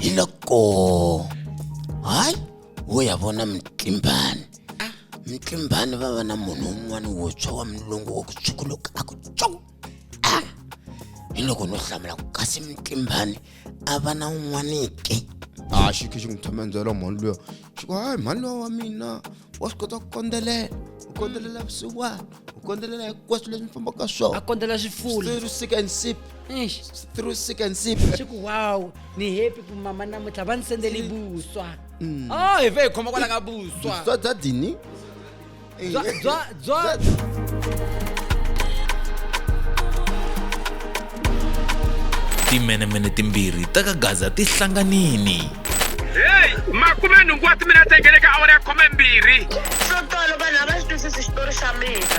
hi loko hayi wo ya vona mutlimbani mutlimbani va va na munhu un'wana wo tshwa wa mulungu wa ku tshukuluka a ku tsu a hi loko no hlamula ku kasi mutlimbani a va na un'wanike a xikhe xi n'wi tshama endzela mhani luya swi ku hayi mhani lowa wa mina wa swi kota ku kondzelela u kondzelela vusiwana u kondzelela hinkwaswo leswi mi fambaka swona a kondzela swifula through sick and sip through sick and sip swi ku wow ni happy ku mama namuntlha va ni sendele vuswa mm. o oh, hi ve hi khoma kwala ka vuswa vuswa bya dini Bya, bya, bya. timenemene timbirhi ta ka gaza ti hlanganini heyi makume nhungu wa timinete ngene ka awara ya khume mbirhi swo tolo vanhu a va swi twisisi xitori xa mina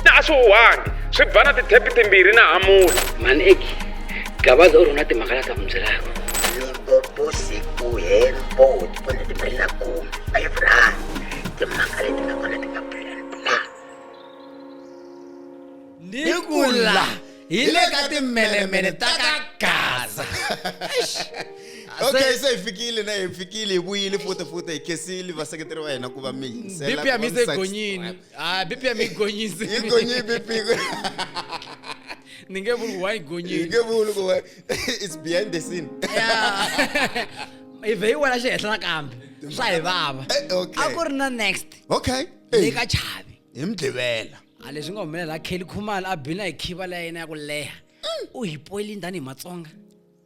na a swi huhangi swi ba na tithepi timbirhi na hamula mani eki gabaza u ri na timhaka la ta mi byelaka limpopo siku hempo tipono timbirhi na khume five rand timhaka leti nga kona ti nga bulelibula ni ku la hi le ka timmelemele ta ka gaza okay se hi fikile na hi fikile hi vuyile futa futa hi khesile vaseketeri va hina ku va mi yingisela bp ya mi se gonyini a bp ya mi gonyise yi gonyi bp ni nge vuli wa yi gonyini yi nge vuli ku it's behind the scene i vhe yi wena xi henhla nakambe swa hi vava Eh, okay. a ku ri na next okay le Hey, ka chavi hi mdlivela a leswi nga humelela kelly khumalo a bina hi khiva la yena ya ku leha u hi poyilini tanihi matsonga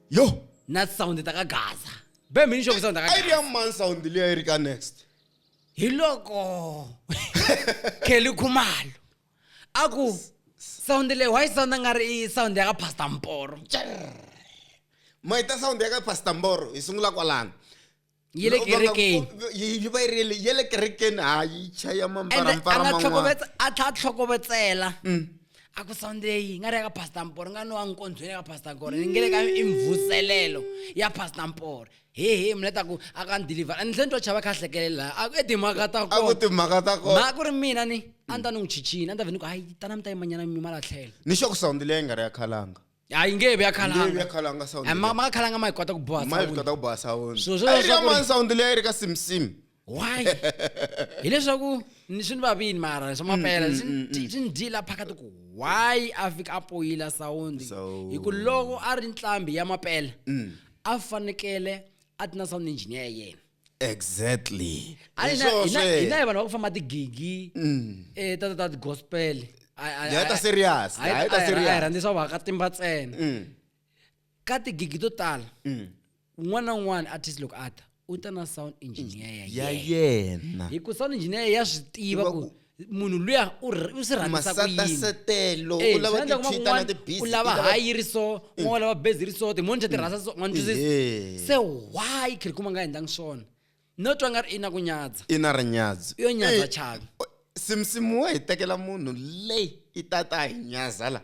yo na sound ta ka gaza be mini xo ku sound ta ka a yi ri gaza ya man sound leyi a yi ri ka next hi loko kelly khumalo a ku sound leyi why sound a nga ri i sound ya ka pastor mporo mayita sound ya ka pastor mboro hi sungula kwalano yi le Loko va nga- kerekeni yi yi va yi ri le- ya le kerekeni ha yi chaya ende a mambarampara nga man'wana tlhokovetse- a tlha tlhokovetsela a ku sunday yi nga ri ya ka pastor mpore nga ni wa nkondzweni ya ka pastor gore ni nge le ka i mvuselelo ya pastor mpore hehe mina ta ku a ka ni deliver ni tlhe ni twa chava kha hlekelela a ku e timhaka ta a ku kona timhaka ta kona mhaka ku ri mina ni a ni ta ni n'wi chichini a ni ta ve ni ku hayi tana mi ta yimanyana mi malatlhelo ni xa ku sawundile yi nga ri ya khalanga a yi nge he vi ya Ngevi ya khalanga khalanga sound Eh, ma leyi. ma ka khalanga ma yi kota ku boha ma yi sound. kota ku boha sound So, swi a yi ri leswaku ka ri- mani sound leyi a yi ri ka simsim why hileswaku ni swi ni vavini mara swa mapela swi ni dyi- swi ni dyila phakati ku why a fika a poyila sawundi Sound. hi ku loko a ri ntlhambi ya mapela a fanekele a ti na sound engineer ya yena exactly A hi na- Hi hi na- hi na swona. vanhu va ku famba tigigi eh, ta ta- ta gospel Hi heta serious, hi heta serious. Mm. rhandzisa va ka timba ntsena ka tigigi to tala un'wana na un'wana artist loko a ta u ta na sound engineer ya ya yena yena hi ku sound engineer ya swi tiva Tiva ku ku- munhu luya u r- u swi rhandisa ku yini masatasetelo Eh, u lava swi endla kuma ku ti-twitter na n'wana ti-busy, u i lava lava- Mm. hayi ri so n'wana u lava bezi ri so timoncha ti rhandza so n'wana twisisa Ehe. se why khirikuma a nga endlangi swona no twa nga ri i na ku nyadza i na rinyadzo yo nyadza Eh, chaka simsimu wa hi tekela munhu leyi i ta ta hi nyaza la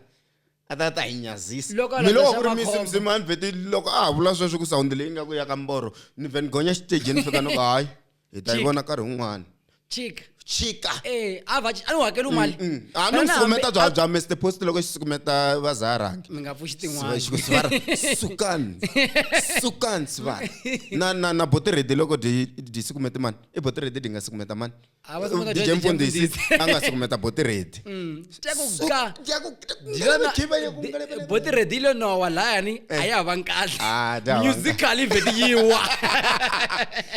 a ta ta hi nyazisa Loko a mi loko landza ku ri swa mi makhombo. simsimu a ni vheti loko a ha vula sweswo ku sawundi leyi nga ku ya ka mboro ni vhe ni gonya xitejini ni fika ni ku hayi hi ta yi Chika. vona nkarhi wun'wana chika chika eh a va a ni hakeli mali Mm. a ni Wena hambi- sukumeta bya bya mr post loko xi sukumeta vazaharangi mi nga pfuxi tin'wana sivara sukani sukani sivara na na na botiredi loko dyi dyi sukumete mani i botiredi dyi nga sukumeta mani A va sukumeta dj dj mfundhisi Mfundhisi. a nga sukumeta botiredi Sukja. bo ti redile nowa layani eh. a ya ha va nkahle ah, musical i vheti yi wa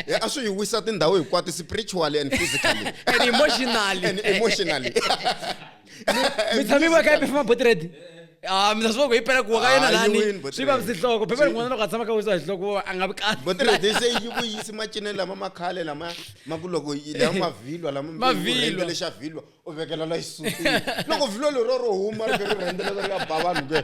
eh, a swi yi wisa tindhawu hinkwato spiritually and physically and emotionally and emotionally mi tshami va ka yi pefuma boti redi Ah, mina swi va ku yi pela ku wa ka yena lani swi va sihloko phepha rin'wana loko a tshama ka wisa hi hloko a nga vi kahle botiredise yi vuyisi macinelo lama ma khale lama ma ku loko lama mavhilwa lama xa vhilwa u vekela la xisutini loko vhilwa lero ro huma ri ri rhendzelela ri ya ba vanhu ke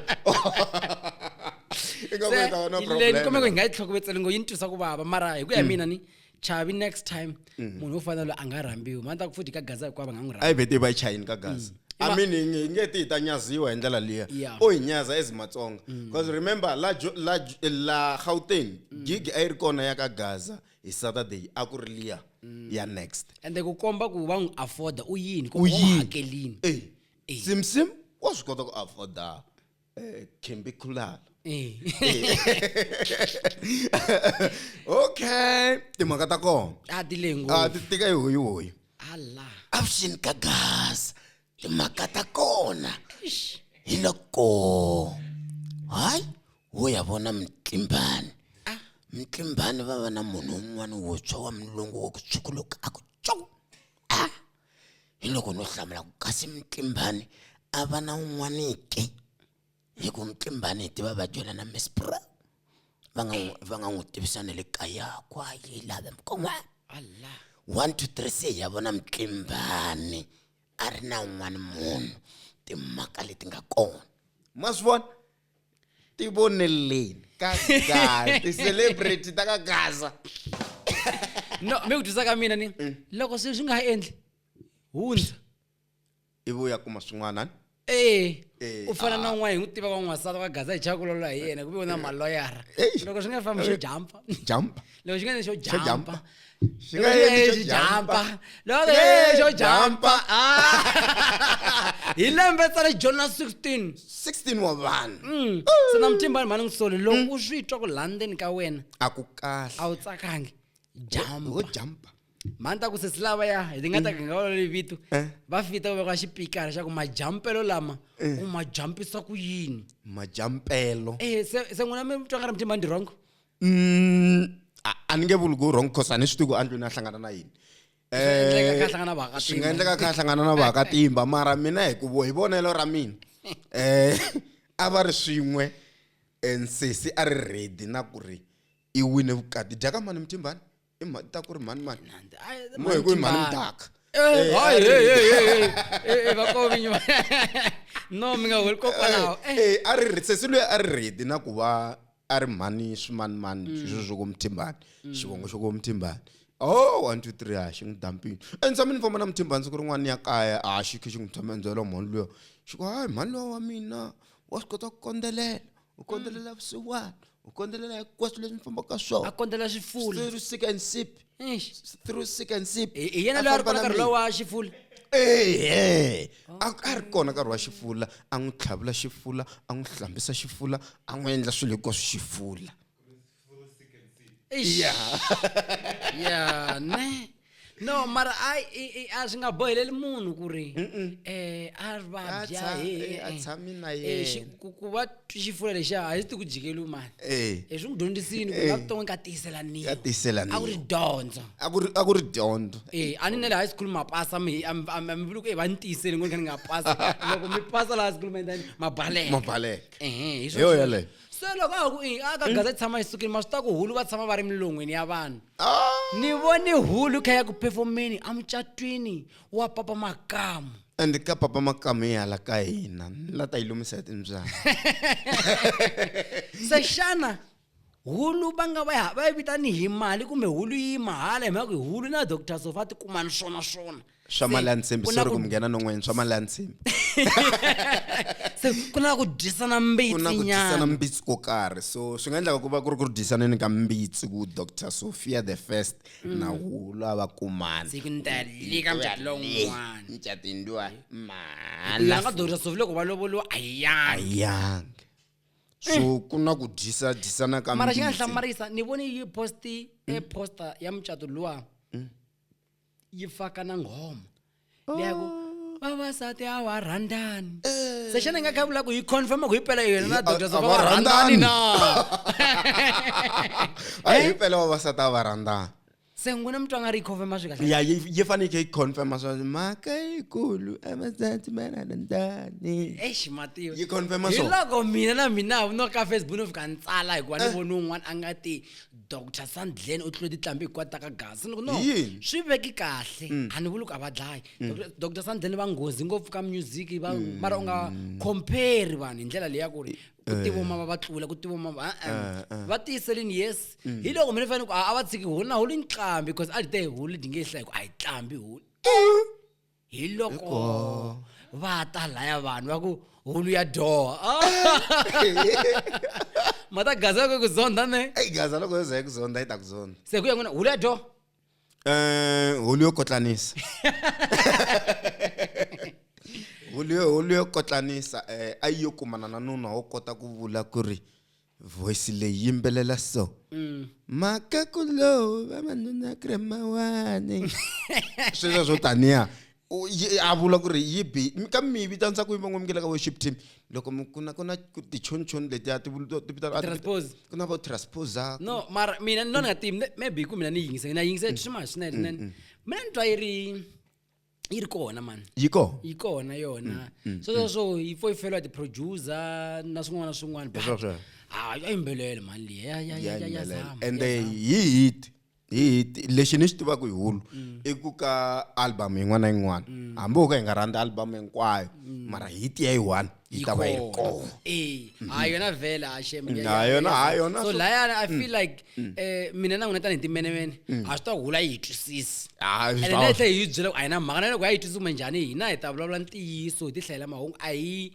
ni kome ku hi nga yi tlhokovetseli ngo yi ni twisa ku vava mara hi ku ya mm. mina ni chavi next time mm. munhu wo fana loyi a nga rhambiwi mani ta ku futhi ka gaza hikuva va nga n'wi rhambi vete va yi chayini ka gaza mm. i mean hi nge ti hi ta nyaziwa hi ndlela liya u hi nyaza as matsonga because remember la la la gauteng gig a yi ri kona ya ka gaza hi saturday a ku ri liya ya next ende ku komba ku va n'wi afforda u yini ku U va n'wi yini? hakelini Eh, Eh. simsim wa swi kota ku afforda eh, khembi khulala Eh. okay timhaka ta kona a ti le a ngopfu ti tika yi hoyi hoyi ala avuxini ka gas timhaka ta kona hi loko hayi wo ya vona mutlimbani ah. mutlimbani va va na munhu un'wana wuntshwa wa mulungu wa ku tshukuluka a ku tsoku a ah. hi loko no hlamula ku kasi mutlimbani a va na un'wanike hi ku mutlimbani hi tiva va dyela na mispro va nga va nga n'wi tivisa na le kaya kwa yi lava mkon'wana allah one two three se hi ya vona mutlimbani a ri na un'wana munhu timhaka leti nga kona ma swi vona tivoneleni ka gaza ti-celebrity ta ka gaza no mi ku dyisa ka mina ni mm. loko swilo swi nga ha endli hundza ivi u ya kuma swin'wana ni ee u fana na un'wana hi n'wi tiva van'wansati va gaza hi chakulolo hi yena ku ve u na maloyara loko swi nga fambi swi jampa jampa loko xi nga xo jampa xi nga xi jampa loko xo jampa hi lembe tsa le jona 16 16 wa vanhu mm. se na mutimba mhani n'wi sole loko mm. u swi twa ku landeni ka wena a ku kahle a wu tsakangi jampa jampa mhani ta ku sesi lava ya hi ti nga ta mm. ganga olole vito eh. va fita ku veka xipikara xa ku majampelo lama eh. u ma jampisa ku yini majampelo e se n'wina mi twa nga ri mutimba ndi wrong Mm, a- a ni nge vuli ku wrong cause a ni swi tivi ku andlwini a hlangana na yini endleka kha hlangana vaaka swi nga endleka kha hlangana na vaakatimba mara mina hi ku vo- hi vonelo ra mina um a va ri swin'we um nsesi a ri ready na ku ri i wine vukati dyakamani mutimbani i mhani ta ku ri mhani mani Nandi. Ay, Mo mhani hi ku i mhani Timbani. mdaka Eh, Eh, hayi, a hey, ri- hey, hey, hey. Eh, eh, vakovinyi va- no mi nga holi kokwalaho Eh, Eh, a ri ri- sesi loyi a ri redi na ku va a ri mhani swimanimani Mm. sweswo swo komuthimbani xivongo xo komuthimbani o one two three a xi n'wi dampini entshamini famba na muthimbani siku rin'wana ya kaya a xi khe xi n'wi tshama endzela mhani luya xi ku hayi mhani luya wa mina wa swi kota ku kondzelela u kondzelela vusiwana u kondzelela hinkwaswo leswi ni fambaka a swona kondzela swifula through sick and sip Eish. through sick and sip hi hi yena A loyi a ri famba kona na nkarhi mina. lowa xifula ehe a a ri kona nkarhi wa xifula a n'wi tlhavula xifula a n'wi hlambisa xifula a n'wi endla swilo hinkwaswo xifula Eish. ya ne no mara a i- i- a swi nga boheleli munhu ku ri Mm-mm. eh, a A vabya tsha- he, eh, a eh. tshami na Eh, yena. xi- ku- ku va xifula lexiya a xi ti ku jikeliwi mani Eh. hi swi n'wi dyondzisini ku Eh. la vuton'wini ka tiyiselaniwa Ka tiyiselaniwa. a ku ri dyondzo a ku ri- a ku ri dyondzo Eh, a ni ne le high school ma pasa mi a mi- a mi a mi vuli ku e va ni tiyisele ngoni kha ni nga pasa loko mi pasa la high school ma endlani ma baleka mabaleka Ehe, hi Hi swona yona sweswo. yeleyo. se loko a ku i- a ka gaza yi tshama yi sukile ma swi ta ku hulu va tshama va ri milon'wini ya vanhu ni vone hulu kha ya ku phefomeni amucatwini wa papa makamu and ka papa makamu yi hala ka hina ni la ta yi lumisa hi timbyana se xana hulu va nga va ya- va yi vitani hi mali kumbe hulu yi mahala hi mhaka ku hi hulu na doctor sofa ti kuma ni swona swona swa mali ya ntshimbi sorry ku munghena non'wanyana swa mali ya ntshimbi se ku na ku dyisana mbitsi na ku dyisana mbitsi ko karhi so swi nga endlaka ku va ku ri ku ri dyisaneni ka mbitsi ku dr sophia the first mm. na wulu a va kumana siku ni ta lika mjati lon'wana mjati ndiwa mhala nga dr sophia loko va lovoliwa a yanga so eh. ku na ku dyisa dyisana ka mara xi nga hlamarisa ni voni yi posti e poster ya mucato luwa yi faka na nghoma leya ku vavasati a wa rhandani se xana i nga kha vula ku yi confirma ku himpela yena na doctor zoko va rhandani na a hi himpela vavasati a va rhandani se n'wina mutwa nga ri yi confirma swi kahle ya yi fanekele yi confirma swa mhaka yikulu vavasati va rhandani eish matiyo yi confirma swona hiloko mina na mina no ka facebook no fika ni tsala hikuva ni voni un'wana a nga ti dr sandlen u tlule titlambi hikwati ta ka gasi ni ku no Hi yini? Mm. swi veki kahle a ni vuli ku a va dlayi Dr- dr sandlen va nghozi ngopfu ka music va Mm. mara u nga compare vanhu hi ndlela leyi ya ku ri ku Eh. tivoma va va tlula ku tivoma va uh-uh. va tiyiselini yes Mm. hi loko mina fanele ku a a va tshiki holi na holi nqambi because a li te holi di nge hla hi ku a yi tlambi holi hi loko va ta laya vanhu va ku hulu ya dyoha ah! ma ta gaza loko ku zonda ne eyi gaza loko yo za yi ku zonda yi ta ku zonda se ku ya n'wina hulu ya dyoha um hulu yo kotlanisa hulu yo hulu yo kotlanisa um a yi yo kumana na nuna wo kota ku vula ku ri voice leyi yimbelela so mm. makakulo vavanuna krema wani sweswo swo taniya a vula ku ri yi bi ka mi vitanisa ku yi van'wamukela ka worship team loko ku na ku na tichonichoni letiya ti ku na vo transposa no mara mina ni lona nga tivi maybe ku mina ni yingise na yingise mm, swima mm, swinene mm, mina ni twa yi ri yi ri kona mani yi kona yi kona yona mm, mm, sweswo mm. swo yi fo yi feliwa ti-producer na swin'wana na swin'wana a yi mbelele mani liyayayayazama ende hi hit hi hit lexi ni xi tivaka hi hulu i ku ka album yin'wana na yin'wana hambi ho ka hi nga rhandza album hinkwayo mara hit ya yi one yi ta va yi ri kona eh mhm. ha yona vhela ha shem ha yona ha yona so layana i feel mm. like mm. eh mina na n'wina tanihi timenemene mm. ha swi ta hula yi hi twisisi ene na yi tlhe hi byela ku a yi na mhaka na loko ya yi twisisi kumbe njhani hina hi ta vulavula ntiyiso hi ti hlayela mahungu a hi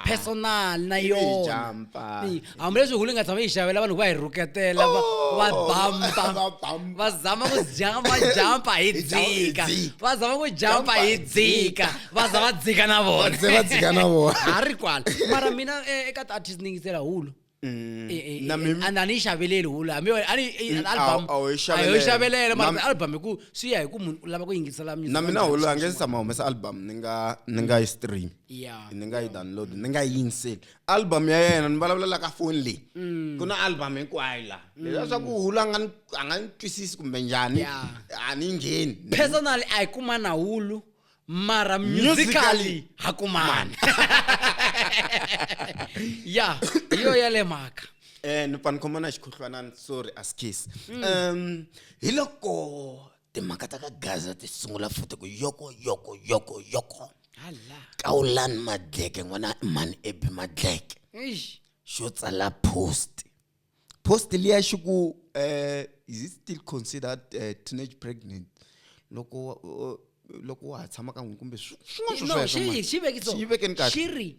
personal na yona hambileswi hulu yi nga tshama yi xavela vanhu va hi rhuketela va oh, va bamba va zama ku jampa jampa hi dzika va zama ku jampa hi dzika va za va dzika na vona se va dzika na vona ha ri kwala mara mina eh, eka ti-artist ni yingisela hulu mm. eh, eh, and a ni yi xaveleli hulu hambi a ni mm, album a yo yi xavelela mara album hi ku swi ya hi ku munhu u lava ku yingisela music na mina hulu a nge se tshama humesa album ni nga ni nga yi stream ni nga yi download ni nga yi yingiseli album ya yena ni vulavulelaka ka foni leyi mm. ku na album hinkwayo la mm. leswa swa ku hulu a nga a nga ni twisisi kumbe njhani a ni ngheni personally a hi kumana hulu mara musically ha kumana ya hi yo ya le mhaka um ni pfa ni khomana xikhuhlwanani sorry askis um mm. hi loko timhaka ta ka gaza ti sungula futhi ku yoko yoko yoko yoko kawulani madleke n'wana mhani ebi madleke xo tsala post post liya xi ku uh, is it still considered uh, teenage pregnant loko uh, loko wa ha tshama ka n'wini kumbe swin'waswoswivekeni kahlexiri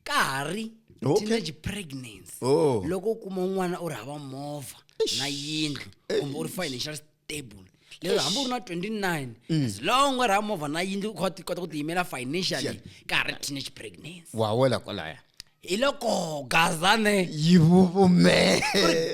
ka ha ri teenage pregnancy oh. loko u kuma un'wana u ri hava movha na yindlu kumbe u ri financial table lero Eish. hambi u ri na 29 as long u ri hava movha na yindlu u kha u ti- kota ku tiyimela financially Sure. ka ha ri teenage pregnancy wa wela kwalaya hi loko gazane yi vuvume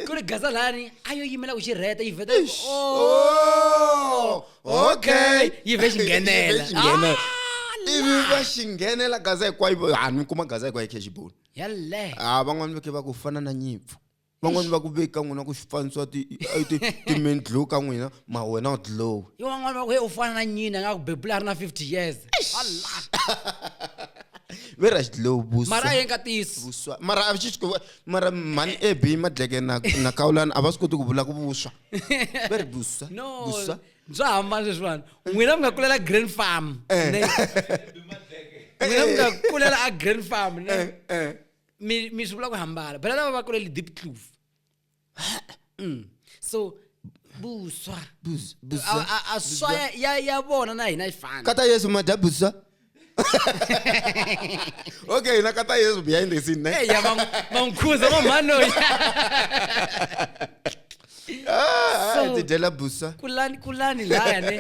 ku ri gazalani a yo yimela ku xi rheta yi vheta yi- Oh, Oh, okay. yi vhe xi nghenela. Yi vhe xi nghenela. Ah, ivi va xi nghenela gaza hinkwayo hanhu kuma gaza hinkwayo khexiboni yaleyo a van'wani veke va ku fana na nyimpfu van'wani va ku veki ka n'wina ku xifanisiwa ti a yi ti ti main glow ka n'wina ma wena u glow yo van'wana va ku he u fana na nyina nga ku bebula a ri na 50 years vera xidlow vuswa mara a yeni ka tiyisi vuswa mara a xi xi- mara mhani ab madleke na na kawulani a va swi koti ku vula ku vuswa va ri vuswa no vuswa bya hambana leswiwani n'wina mi nga kulela grand farm ne? n'wina mi nga kulela a grand farm ne? Eh, eh. mi mi swi vula ku hambana bela lava va kulele deep clove mm. so buswa Bus- buswa. A- a- a swa ya- ya ya vona na hina yi fana kata yesu madya buswa okay hina kata yesu behind the scene ne Eh, ya va n'wi- va n'wi khuza mamhanoyi Ah, So- tidyela busa kulani kulani laya ne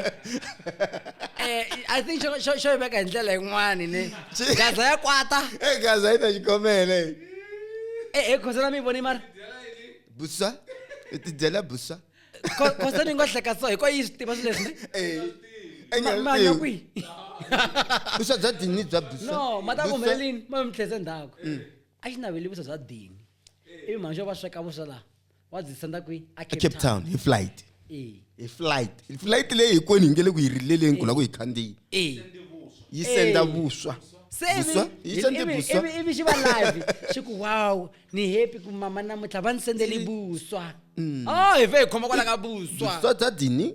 eh, i think xo- xo xo yi veka hi ndlela yin'wani ne gaza ya kwata Eh, gaza yi ta xikomele e e khosana mi yi voni mara busa i tidyela busa Kho- khosana yi ngo hleka so hi ko yi swi tiva swilo leswi ne Eh, eh, Ma- ma nya eh, kwihi busa bya dini bya busa no ma ta Busa. kumbelelini ma mi tlhese ndzhaku a xi naveli vusa bya dini ivi mhani xo va sweka vuswa laha ecape town hi flight hi flight flight leyi hikwenu hi nge le ku yi rileleni ku la ku hi khandziyi yi senda vuswa ivi xi va live xi ku wow ni happy ku mama namuntlha va ni sendeli vuswa mm. o oh, hi fe hi khoma kwala ka vuswa bya dini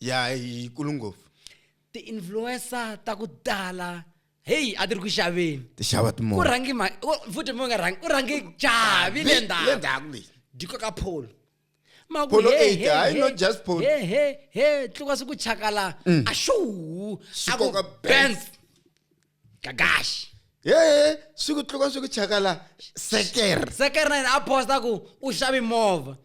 ya yi kulu ngopfu ti-influencer ta ku tala heyi a ti ri ku xaveni ti xava ku timovha rhangi ma u- futhi mi nga rhangi u rhangi chavi le le ndzhaku ndzhaku leyi di koka pholo ma ku Polo he, eight, he, hayi he, not just polo. he he he tluka siku chakala a shuu Swi a ku koka benz gagashi yeye swi ku tluka swi ku chakala sekere sekere na yena a posta ku u xavi movha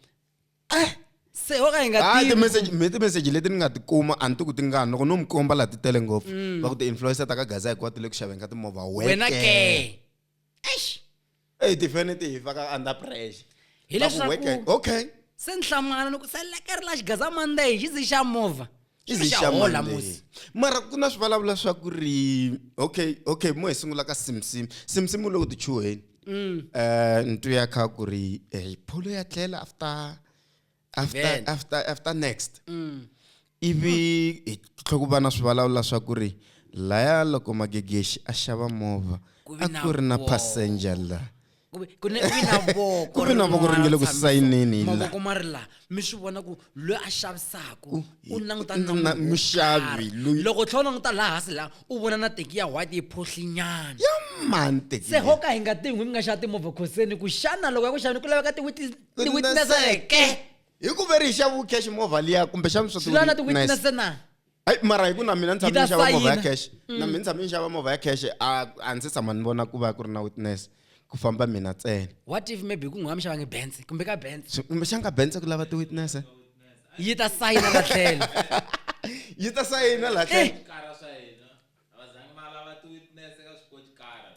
se ho ka hi nga hayi tivi timeseji mi timeseji leti ni nga ti kuma a ni ti ku ti ngani loko no mi komba laha ti tele ngopfu va ku ti-influencer ta ka gaza hikuva ti le ku xaveni ka timovha Mm. wena weke ke eish eyi tifeni ti hi faka under pressure Hi Va ku leswaku- weke okay se ni hlamala ni ku se lekeri la xigaza monday xi ndzi xa movha i Xilo xa zixamani hola, leyi. musi. mara ku na swivulavula swa ku ri okay okay mo hi sungula ka simsim simsim u le ku tichuheni Mm. Eh, ntu ya kha ku ri eh, pholo ya tlela after after Amen. after after next Mm. ivi hi tlhe ku va na swivulavula swa ku ri laya loko magegexi a xava movha Ku vi a na ku ri na wo. passenger la ku ve ku ne ku vi na voko Ku ve na voko ri nge le ku rin'wana sayineni hi la. mavoko ma ri la mi swi vona ku loyi a xavisaka u hi- langutana na na munhu wo muxavi karhi. loyi- loko u tlhela u languta laha hansi laha u vona na teki ya white yi phohlinyana ya mani teki se leyi? ho ka hi nga tin'wi mi nga xava timovha khoseni ku xana loko ya ku xaveni ku laveka tiwitnese Tiwitneseke. hi ku ve ri yi xaviwe cash movha liya kumbe xana swi swi lava na tiwitnese na Ai mara hi ku na mina ni Yi tshame ta ni xava movha ya sayina. cash na mina ni tshame ni xava movha ya cash a a ndzi se tshama ni vona ku va ku ri na witness ku famba mina ntsena what if maybe ku n'wami xavange bense kumbe ka bense Swi- kumbe xanga bense ku lava ti-witness eh? yi ta sayina la tlhelo yi ta sayina la tlhelo kara swa hina a va zangi va lava ti-witness eka swikotikara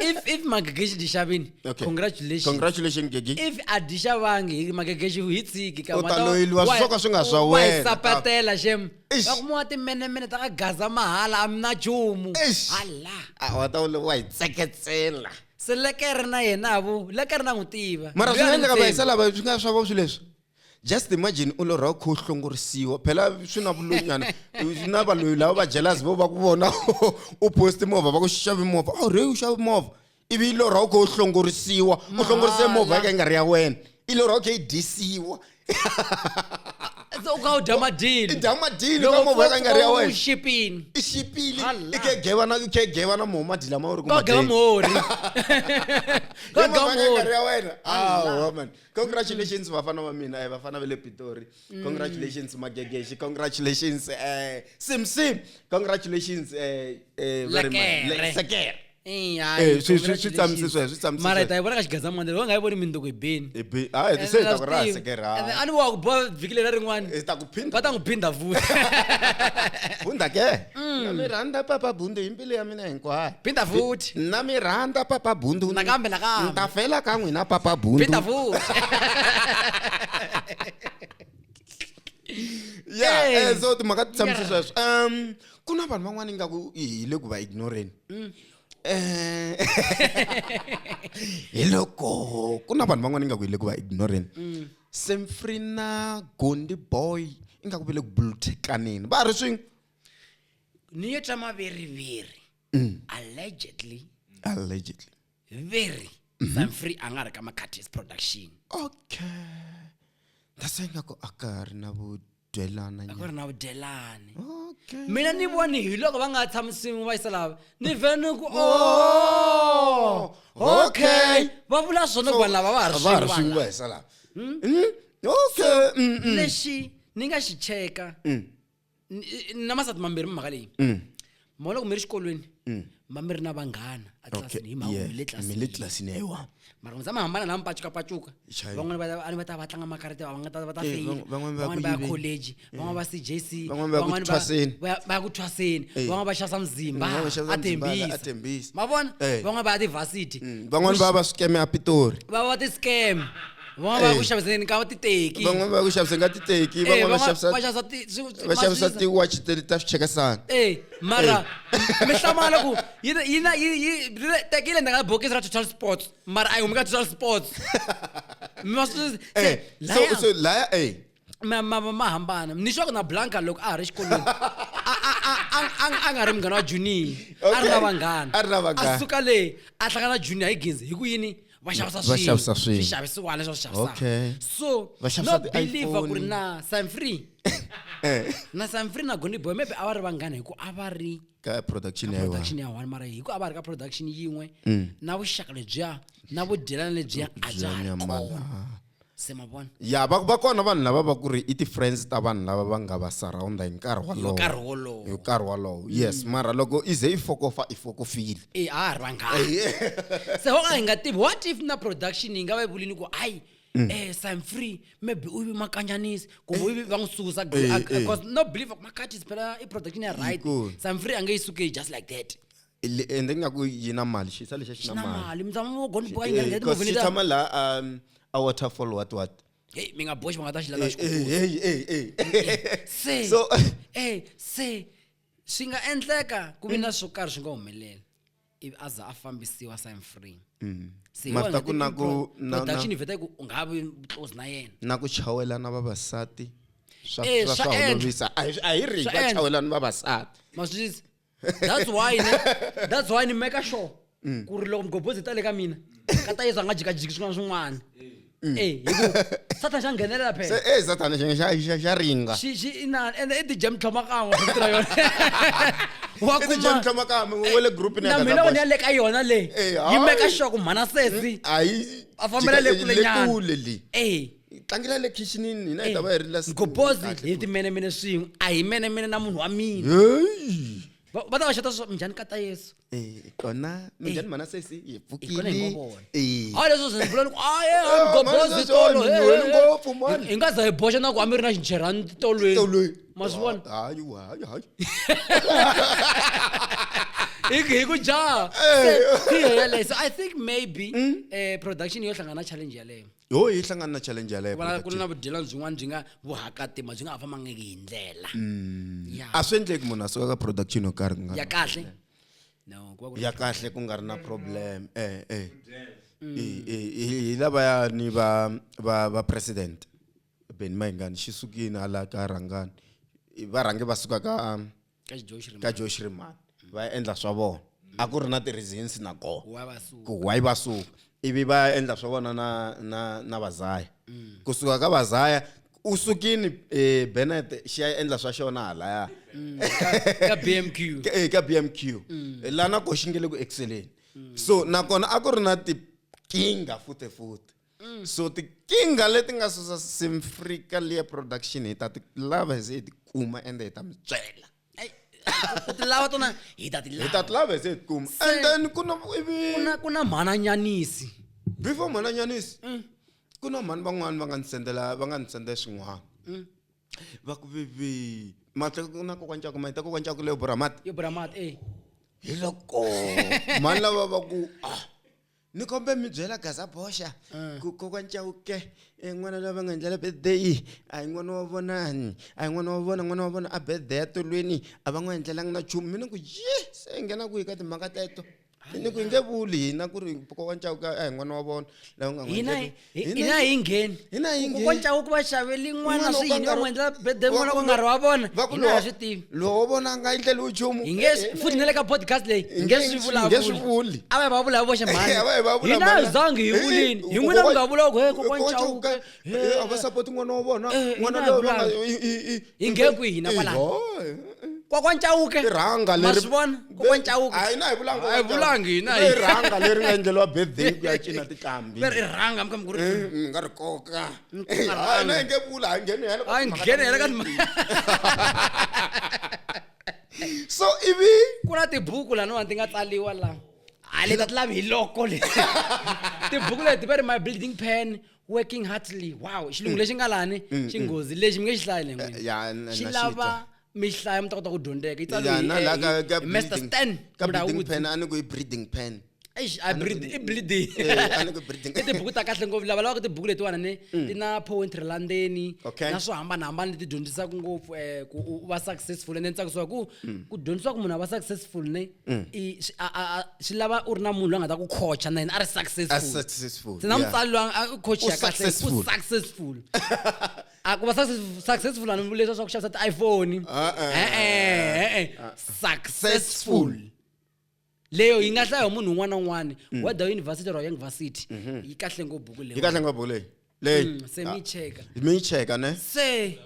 if if magegeshi dishavini Okay. congratulations congratulation gegi if a dishavangi hi magegeshi hi tsiki ka U ta loyeliwa swo ka swi nga swa wena. sapatela shem Eish. vakumiwa timenemene ta ka gaza mahala a mi na chumu Eish. hala Ah, wa ta wu- wa hi tseketsela se lekere na yena avo lekere na n'wi tiva mara Loyi swi a nga ni endleka va tshembi. hisa lava swi nga swa vo swi leswi just imagine u lorha u kha u hlongorisiwa phela swi na vuloyinyana na valoyi lava va jelasi vo va ku vona u posti movha va ku xavi movha a rhe u xavi movha ivi yi lorha u kha u hlongorisiwa u hlongorise movha ya ka yi nga ri ya wena yi lorha u kha yi disiwa u kha u dya madini dya madini ka movha ya ka yi nga ri ya wena xipini i xipili i khe geva na i khe geva na moho madi lama u ri ku geva mohori ka geva mohori ya wena awa mani congratulations vafana va mina eh, vafana va le pitori mm. congratulations magegeshi congratulations eh, sim sim congratulations eh, eh, very much. Le- sekere Eh, eh, swi- swi- swi tsamise sweswo, swi tsamise mara hi sweswo. ta yi vona ka xigazamandela va nga yi voni mindoko hi beni Eh, bi- ah, eh, se hi ta ku raha sekere ah. a ni wa ku boha vhiki leri rin'wana hi ta ku phinda va ta n'wi phinda futi bunda ke na mi rhandza papa bunda hi mbilu ya mina mina hinkwayo phinda futhi na mi rhandza papa bundu nakambe nakambe ni ta fela ka n'wina papa bundu phinda futhi yeah hey. Eh, so timhaka ti tshamise sweswo um ku na vanhu van'wana ingaku hi le ku va ignoreni mm. eh, hi loko ku na vanhu van'wana ingaku hi le ku va ignoreni mm. semfrina gondi boy ingaku va le ku buluthekaneni va ri swin'we niyo tsa maveri veri mm. allegedly allegedly veri mm -hmm. sanfree a nga ri ka macatis production okay ndase ingaku a ka ri na vudyelana a ku ri na vudyelani okay. mina ni voni hi loko va nga tshamisiwi va yisa lava ni ve ni ku o oh, okay va vula swona ku vanhu lava va ha ri swin'we va yisa lava hmm? Hmm? okay hmm, lexi ni nga xi cheka na masati mambirhi mi mhaka leyi mm. ma loko mi ri xikolweni mm. ma mi ri na vanghana atlilasini hi mhaka le tlilasini tlilasini ya yiwa mara n'wisa mi hambana lama pacukapacuka van'wana va ni va ta va tlanga makarete van'wana va ta feyila eh, van'wana va ya college eh. van'wana va c j c van'wana va ya ku thwaseni eh. van'wana va xasa mzimba atembisi ma vona van'wana va ya tivasity mm, van'wana va va swikeme a pitori va va ti-scam van'wana va ya ku Eh. xaviseni ka titeki van'wana va ku xavisa nga titeki Eh, van'wana va van'wana xavisa va xavisa ti- swi- va xavisa maxinisa. ti-watch te- ta swichekasana Eh, mara mi hlamala ku yi na- yi na- yi- yi- rile- teki yi le ndzhaku ka bokisi ra total sports mara a yi humi ka total sports Mi va swi- Eh, se- so laya- so laya eh ma ma ma hambana ni swa ku na blanca loko a ha ri xikolweni a nga ri munghana wa junior a ri na vanghana a ri na vanghana a suka le a hlangana junior hi ginzi hi ku yini va xavisa swilo va xavisa swilo swi xavisiwa leswi swi xavisa okay so va xavisa no believe ku ri na sam free eh. na sam free na goni boy maybe a va ri vanghana hi ku a va ri ka production ya production ya one mara hi ku a va ri ka production yin'we mm. na vuxaka lebyiya na vudyelana lebyiya a bya ha ri kona se ma vona ya va va kona vanhu lava va ku ri i ti-friends ta vanhu lava va nga va surrounda hi nkarhi hi wolowo nkarhi wolowo hi nkarhi wolowo yes mara loko i ze i fokofa i fokofile e a ha ri vanghani se ho ka hi nga tivi what if na production yi nga va yi vulini ku hayi um sign free maybe u vi makanyanisi kumbe u vi va n'wi susa Eh, eh. because no believe makhathis phela i production ya right Inkosi. sign free a nge yi suke just like that Le- ende ingaku yi na mali xisa lexa xi na mali namali mzama mo goni boka Eh, ingangeti 'cause xi ngovinita tshama la um a waterfall what what hey mi nga boxi va nga ta xi lala Eh, xi eh, hey, hey, hey. se so eh se swi nga endleka ku vi na swo karhi swi nga humeleli ivi a za a fambisiwa sign free se hi Mara wona ku na ti- ku- pro- na- na- production yi vheta ku u nga ha vi close na yena na ku chawela na vavasati swa Eh, swa- swa swa endla. olovisa a hi- a hi ri Swa va endla. chawela ni vavasati maswisisi that's why ne that's why ni maker sure mm. ku ri loko migobhozi ta le ka mina ka ta yesu a nga jikajiki swin'wana swin'wana mm. e eh, satan xa nghenelela phela e eh, satan xa ringa ende i dijam tlhoma kan'we ra yona na mina vona ya le ka yona leyi eh, yi meka sure ku mhana sesi a fambela le kulenyana hi tlangela le khixinini hina hi ta va hi ri la sitini. Gobozi Kahle hi futhi. timenemene swin'we a hi menemene na munhu wa mina Heyi. va va ta va xata swa minjhani kata yesu Eh, kona minjhani mana sesi hi hi kona hi ngo vona Eh. a leswo swi vula ni ku a ye a Eh, gobozi manje tolo swi he, he, onhile he. ngopfu, mani. Hi- hi nga za hi boxa na ku a mi ri na xincherhani tolweni Tolweni. ma swi vona Hayi, hayi, hayi. hi hi ku jaha Se, hi yeleyo so i think maybe eh, production yo hlangana na challenge yaleyo yo hi hlangana na challenge yaleyo ku na- ku na vudyelani byin'wana byi nga vuhakatima byi nga ha fambangiki hi ndlela Ya. a swi endleki munhu a suka ka production yo karhi ku nga ya ri- kahle no ku va ku ri ya kahle ku nga ri na problem eh eh Hi- hi- hi- hi lavaya ni va va va president beni mayingani xi sukini hala ka rhangani I- va rhange va suka ka um, ka josh riman va endla swa vona a ku ri na ti-reasons na koho ku why va suka ivi va endla swa vona na na na vazaya mm. kusuka ka vazaya u sukini eh, benet xi ya endla swa xona halaya mm. ka b m q eh, ka b m q mm. lana ko xi nge le ku exceleni so nakona a ku ri na tikinga futefuti mm. so tikinga leti nga susa simfrika liya production hi ta ti lava hi ze hi ti kuma ende hi ta mi byela u ti lava tona hi ta ti lava hi ta ti lava hi ze hi ti kuma and then ku na ivi ku na ku na mhananyanisi before mhananyanisi mm. ku na mhani van'wani va nga ni sendela va nga ni sendela swin'wana mm. va ku vivi mati na kokwana cako mati kokwana cako leyo buramati yo buramati eh hi loko mhani lava va ku ah ni kombe mi byela gaza boxa Eh. ku kokwani chauke eh, n'wana loyi va nga endlela birthday a hi n'wana wa vonani a hi n'wana wa vona n'wana wa vona a birthday ya tolweni a va n'wi endlelanga na chumu mina ku ye se hi nghena kwihi ka timhaka teto ni ku hi nge vuli hina ku ri kokwani chauke a hi n'wana wa vona lava nga n'wi hina hi endleki Hi- Hina hina yi- hi ngheni hina hi ngheni. kocaku ku va xaveli n'wana swi yini va n'wi endlela bede n'wana ku nga ri wa vona hina ha swi tivi lowo vona a nga endleli uchumu hi nge swi- futhi na le ka podcast leyi hi nge swi vulavuli vulavuli a va yi va vula hi voxe Eh, a va yi va vula hina mhani. hi zangi hi Eh, vulini hi eh, n'wina mi nga kokwa- vula ku he kokwa kokwa ncawuke Chauke, eh, a va sapoti n'wana wa vona Eh, n'wana hina hi loyi va nga- vulanga. i- i- i- hi nge kwihi na kwalani kokwancawuke irhanga leri vona kokwancawuke hayi na hi vulanga hayi vulanga hina hi irhanga leri nga endleliwa birthday ku ya cina tikambi leri irhanga mkambi ku ri eh, mi nga ri koka hayi na hi nge vula hayi ngheni hela hayi ngheni hela ka so ivi ku na tibuku laniwani ti nga tsaliwa la hayi leta ti lavi hi loko le tibuku leti va ri my building pen working hardly wow xilungu lexi nga lani xi nghozi lexi mi nge xi hlayi len'wini Eh, ya, na- xi na lava xitwa. mi xi hlaya mi ta kota ku dyondzeka yi Ya, tsaliwe hi- na la hi- ka- ka hi master breeding- stan ka breeding Mudawudzi. pen a ni ku i breeding pen Eish, a breed- i bleeding Eh, a ni ku breeding i tibuku ta kahle ngopfu lava lavaka tibuku letiwana ne ti na poetry la ndzeni Mm. Okay. na swo hambanahambana leti dyondzisaka ngopfu um ku u va successful ende ni tsakisiwa ku ku dyondzisiwa ku munhu a va successful ne mm. i swi lava u ri na munhu loyi a nga ta ku coacha na yena a ri successful na mutsari loyi a coacha kahle u successful a ku va successful ani leswi swa ku xavisa ti-iphone e-e successful leyo yi nga hlaya hi munhu un'wana na un'wana mm. whether university or young varsity mm-hmm. yi kahle ngopfu buku leyi yi kahle ngopfu buku leyi leyi mm, se mi yi cheka mi yi cheka ne se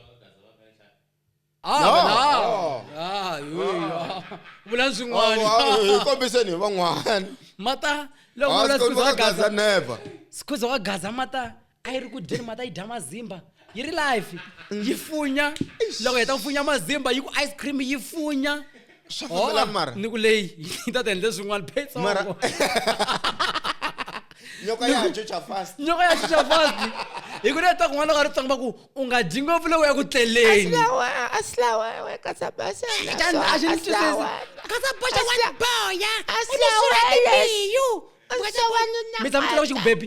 Ah, No. vela. Oh. Ah, yo, yo. Vulan swin'wana. Hi kombiseni hi van'wana. Mata loko Ah, vula swi sikhuza wa kombisa Gaza Gaza. never. Sikhuza wa Gaza mata a yi ri ku dyeni mata yi dya mazimba. Yi ri life. Yi funya. Loko yi heta ku funya mazimba yi ku ice cream yi funya. swa Oh, fambelana mara ni ku leyi yi ta ti endle swin'wana mara phetsongo nyoka ya dyo cha fast nyoka ya xixa fasi hi ku leta kun'wana ka ritsongo va ku u nga dyi ngopfu loko ya ku tleleni mi tshama ku tlula ku xi ku bebi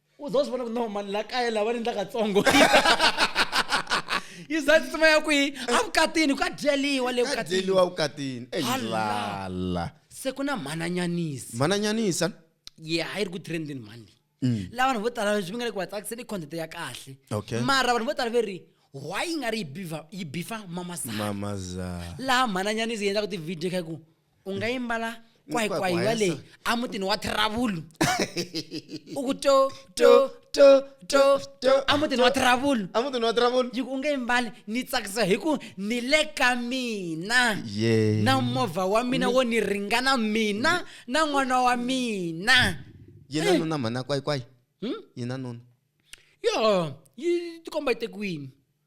u za swi vona ku no mani la kaya lava ni ndla katsongo yi za tsima ya kwihi a vukatini ka dyeliwa le ka dyeliwa vukatini eyilala se ku na mhananyanisa mhananyanisa ye yeah, a yi ri ku trendini mhani leyi mm. la vanhu vo tala leswi mi nga le ku va tsakiseni i content ya kahle mara vanhu vo tala ve ri why yi nga ri yi bifa mamazana mamazana laha mhananyanisa yi endlaka ti-video kha ku u nga yimbala kwahikwaiwa Kwahikwaiwa leyi a mutini wa thravulu u ku to to to to to a mutini wa thravulu a mutini wa travel yi ku u nge yimbali ni tsakisa hi ku ni le ka mina Yeah. na movha wa mina wo ni ringana mina na n'wana wa mina yena Eh. nuna mhana kwayikwai Hmm? yena nuna yo yi tikomba yi te kwini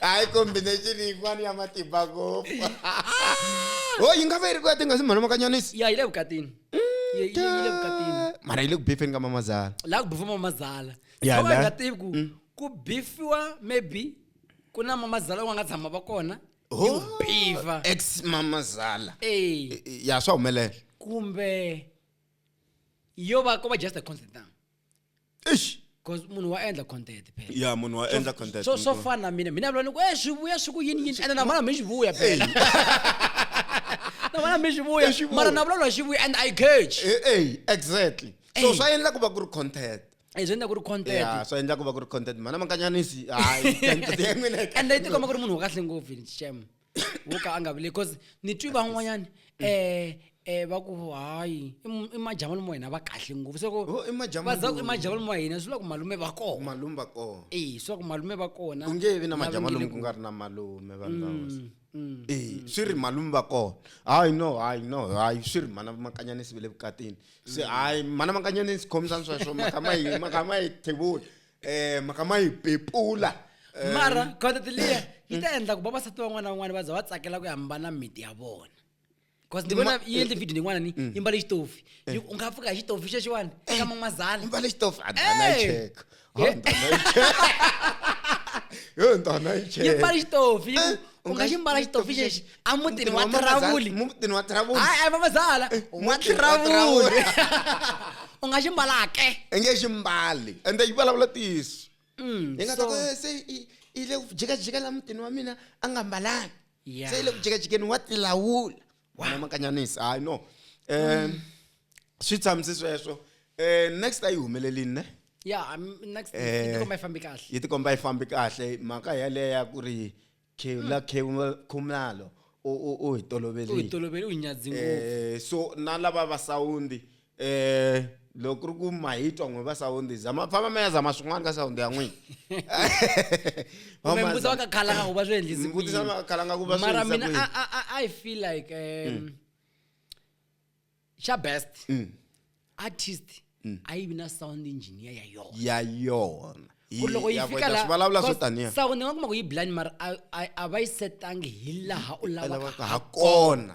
hayi combination yin'wana ya matimba ngopfu ho yi nga va yi ri ku ya tinga si mhana makanyanisi ya yi le vukatini Yi- yi- yi le vukatini mara yi le ku bifeni ka mamazala la ku bifiwa mamazala Ya, Khawa la- nga tivi ku ku bifiwa maybe ku na mamazala wa nga tshama va kona Ho. yo bifa ex mamazala Eh, ya swa humelela kumbe yo va ko va just a constant eish cause munhu wa endla content phela ya munhu wa endla content so so fana na mina mina vula ni ku e swi vuya swi ku yini yini ene na vona mi swi vuya phela na vona mi swi vuya Swi vuya. mara na vulavula hi swi vuya and i catch Eh, eh, exactly so Ey. swa endla ku va ku ri content Eh, swi endla ku ri ya content swa endla ku va ku ri content mana mankanyanisi hayi content ya n'wina yi and i tikomba ku ri munhu wa kahle ngopfu ni xem wo ka a nga vile because ni twi van'wanyani um um va ku hayi i mu- i majavani mo hina va kahle ngopfu se Oh, i majavani va za ku i mo- majavani mo hina swi vula ku malume va kona malume va kona e swi vula ku malume va kona ku nge vi na lava majama nge le lomu ku ku- nga ri na malume vanhu va hosi Mm, mm. Eh, swi ri malume va kona hayi no hayi no hayi swi ri mana makanyanisi ve le vukatini se hayi mana makanyanisi khomisani sweswo makamayi makamayi thevula eh mhaka ma yi pepula eh. mara content liya yi ta endla ku vavasati van'wana na van'wana va za va tsakela ku hambana miti ya vona bcause ni vona yi endle video yin'wana ni mm. yi mbale xitofi eh. u nga pfuka hi xitofi xexiwani eh. ka mamazana mbale xitofi adana yi cheka yo ntana yi cheka yi mbale xitofi u nga xi mbala xitofi xexi emutini wa tiravuli mutini wa tiravuli hayi hayi mamazala wa tiravuli u nga xi mbalake i nge xi mbali ende yi vulavula tiyiso mm, yi nga ta ku eh, se yi le ku jikajika la mutini wa mina a nga mbalanga se yi le ku jikajikeni wa tilawula Wena makanyanisi hayi no um swi tshamisi sweswo um next a yi humelelini ne ya I'm- next Eh. yi tikomba yi fambi kahle yi tikomba yi fambi kahle mhaka yaleya ku ri khevula khevula- khumalo u u- u hi u hi toloverile tolovele u hi nyadzi ngopfu Eh, so na lava va sawundi eh loko ku ri ku ma hi twa n'wi va sawundi za ma famba ma ya zama swin'wana ka sawundi ya n'wina mbuti vakakhalanga ku va swi endlisimara mina i feel like um, mm. xa best mm. artist mm. a yi vi na sound engineer ya yona ya yona ku ri loko yi fika lasauni nga kuma ku yi blind mara a va yi setangi hi laha u lavaka ha kona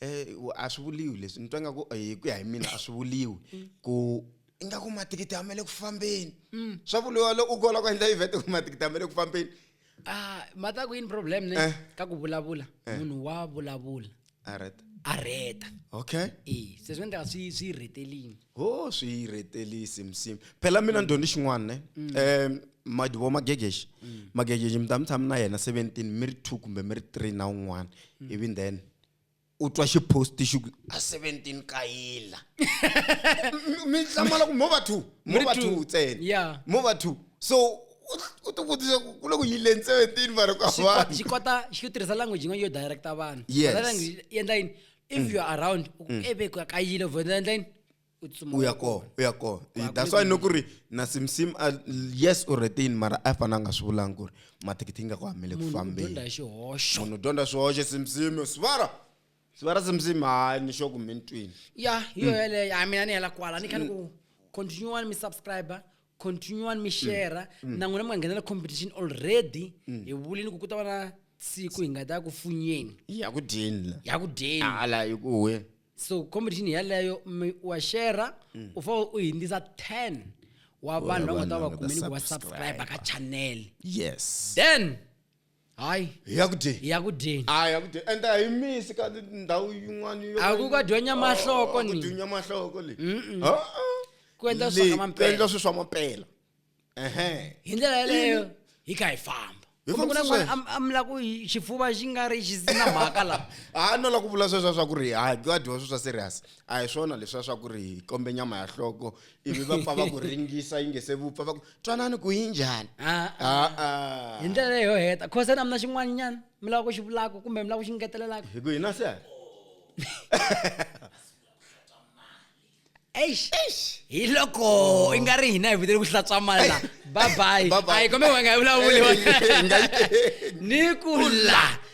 Eh, wa- a swi vuliwi leswi ni twa nga ku eh, hi ku ya hi mina a swi vuliwi ku ingaku mathikithi a ma le ku fambeni swa vuliwa loko u kola ku endla event ku mathikithi a ma le ku fambeni Ah, mata ku yini problem ne Eh. ka ku vulavula munhu wa vulavula alright a reta okay e se swi endlaka swi swi rhetelini ho swi yi rhetelisi msimu phela mina ndyondzi xin'wana ne um mm. madivo magegexi mm. magegexi mi ta mi tshami na yena seventeen mi ri two kumbe mi ri three na un'wana mm. ivi then u twa xiposti xi ku a seventeen kayila mi hlamala ku mo va two mo va two ntsena mo va two so u ti vutisa ku le ku yileni seventeen vanhu ka vanhu xi kota xi tirhisa language yin'wana yo directa vanhu language yi endla yini if mm. you are around mm. ebe ka kayile over the line uya kona uya kona that's why noku ri na simsim uh, yes u retain mara a fana a nga swi vulangi ku ri mathikithi nga ku hamele ku fambenimunhu dyondza swihoxo simsim swivara swivara simsim hayi ni xoku mi ntwini ya yo mm. yeleyo a mina ni hela kwala ni khani ku continue wani mi subscriber continuan mi shera mm. mm. na n'wina mi nga nghenela competition already mm. hi vulini ku ku ta va na siku hi nga ta ku funyeni ya ku dyeni ya ku dyeni hala hi ku we so competition yaleyo wa shera mm. u fanele u hindzisa ten wa vanhu va nga ta va va kumeni ku va subscribe ka channel yes then hayi hi ya ku dyeni hi ya ku dyeni a hi ya ku dyeni and a hi misi ka ndhawu yin'wana yo A ku ka dyunya mahloko ni. dyunya mahloko le Mm-mm. Ah, ah. Ku endla swa Le, ka mampela. ku endla swi swa mampela ehe hi ndlela yeleyo hi kha hi famba Hi kumbe ku na fambisa n'wana sweswo. am- amla ku hi- xifuva xi nga ri xi na mhaka la a no la ku vula sweswa swa ku ri ha ka dyiwa swi swa serious a hi swona leswiya swa ku ri hi kombe nyama ya hloko ivi va pfa va ku ringisa yi nge se vupfa va ku twanani ku yi njhani Ah, ah. a-a hi ndlela leyo heta khosa na mina xin'wanyana mi lava ku xi vulaka kumbe mi lava ku xi ngetelelaka hi ku hina se eish hi loko i nga ri hina hi vitele ku hlantswa mali la babayi Bye-bye. ayi kombe wanga hi vulavuli Hey, hey, hey, nga yi- ni ku la